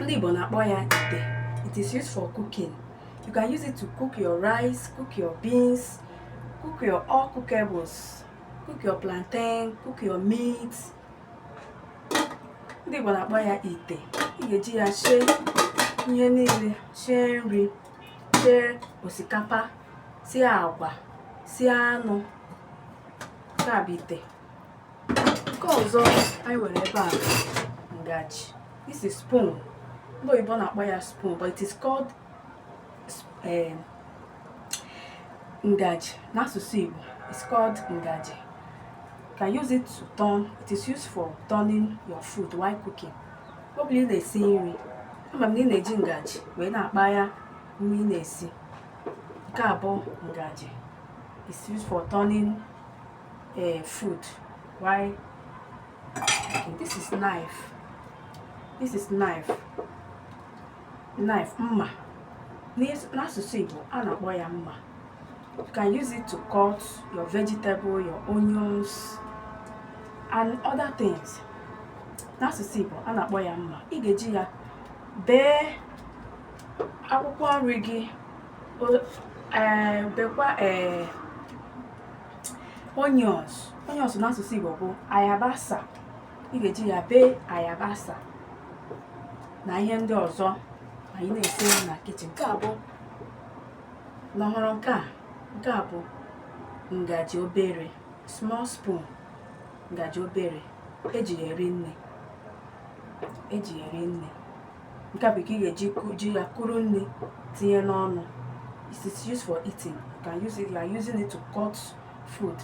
ndị Igbo na-akpọ ya ite it is used for cooking you can use it to cook your rice cook your beans cook your all cookables cook your plantain cook your meat ndị Igbo na-akpọ ya ite ị ga-eji ya sie ihe niile sie nri sie osikapa sie agwa sie anụ nke a bụ ite nke ọzọ anyị nwere ebe a ngaji this is spoon ndị oyibo na-akpọ ya spoon but it is called eh, ngaji n'asụsụ Igbo it's called ngaji you can use it to turn it is used for turning your food while cooking ọ bụrụ na ị na-esi nri ama m na ị na-eji ngaji wee na-akpa ya nri ị na-esi nke a bụ ngaji is used for turning uh, food while okay, this is knife this is knife knife mma n'asụsụ Igbo a na-akpọ ya mma you can use it to cut your vegetable your onions and other things n'asụsụ Igbo a na-akpọ ya mma ị ga-eji ya bee akwụkwọ nri gị eh, bekwa ee eh, onions onions n'asụsụ Igbo bụ ayabasa ị ga-eji ya bee ayabasa na ihe ndị ọzọ anyị na-esi na kitchen nke a bụ unu hụrụ nke a nke a bụ ngaji obere small spoon ngaji obere eji ya eri nri eji ya eri nri nke a bụ ka ị ga-eji ya kuru nri tinye n'ọnụ it is used for eating you can use it like using it to cut food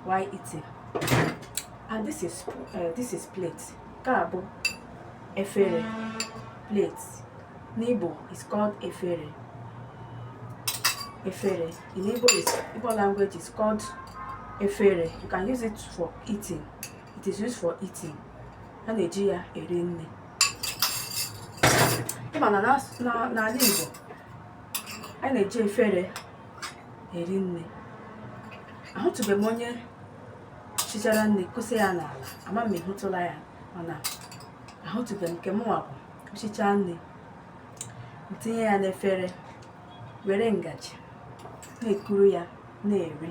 while eating and this is uh, this is plate nke a bụ efere plate n'Igbo is called efere efere in Igbo is Igbo language is called efere you can use it for eating it is used for eating a na-eji ya eri nri ị ma na n'ala Igbo a na-eji efere eri nri ahụtụbeghị m onye sichara nri kusa ya n'ala ama m ị hụtụla ya mana ahụtụbeghị m nke mụnwa bụ sichaa nri tinye ya n'efere were ngaji na-ekuru ya na-eri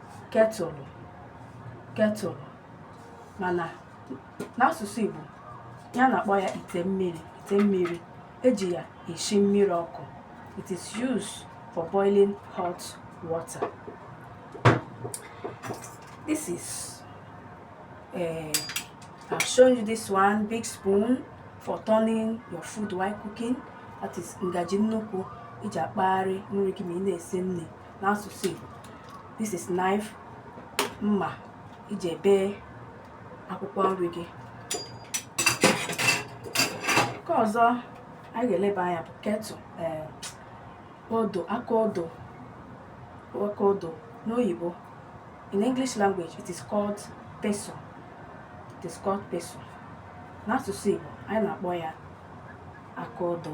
kettle kettle mana n'asụsụ Igbo ha na-akpọ ya ite mmiri ite mmiri eji ya esi mmiri ọkụ it is used for boiling hot water this is uh, I've shown you this one big spoon for turning your food while cooking that is ngaji nnukwu i ji akpagharị nri gị ma ị na-esi nri n'asụsụ Igbo this is knife mma i ji ebe akwụkwọ nri gị nke ọzọ anyị ga-eleba anya bụ ketụ eh, odo aka odo aka odo n'oyibo in English language it is called pestle it is called pestle n'asụsụ Igbo anyị na-akpọ ya aka odo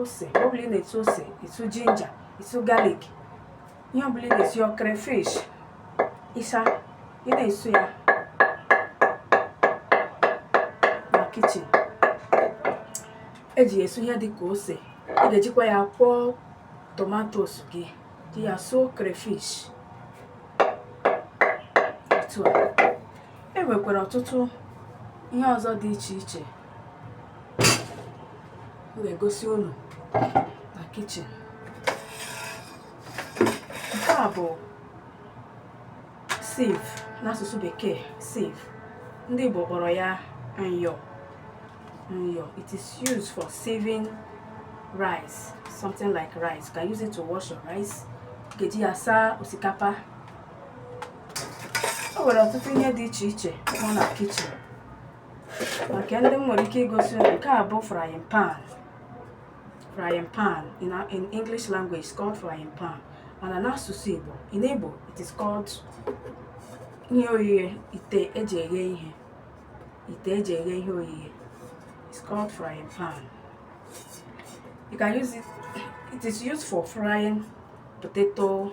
ose ọ bụla ị na-esu ose isu ginger isu garlic ihe ọbụla ị ga-esu ya crayfish ịsa ị na-esu ya na kichin eji esu ihe dị ka ose ị ga-ejikwa ya kwọọ tomatos gị ji ya suo crayfish otu a e nwekwara ọtụtụ ihe ọzọ dị iche iche m ga-egosi unu na kichin nke a bụ sieve n'asụsụ bekee sieve ndị Igbo kpọrọ ya nyọ nyọ it is used for sieving rice something like rice you can use it to wash your rice ị ga-eji ya saa osikapa o nwere ọtụtụ ihe dị iche iche nọ na kichin maka ndị m nwere ike igosi unu nke a bụ frying pan frying pan in, a- in english language it's called frying pan mana n'asụsụ igbo in igbo it is called ihe oghighe ite eji eghe ihe ite eji eghe ihe oghighe it's called frying pan you can use it it is used for frying potato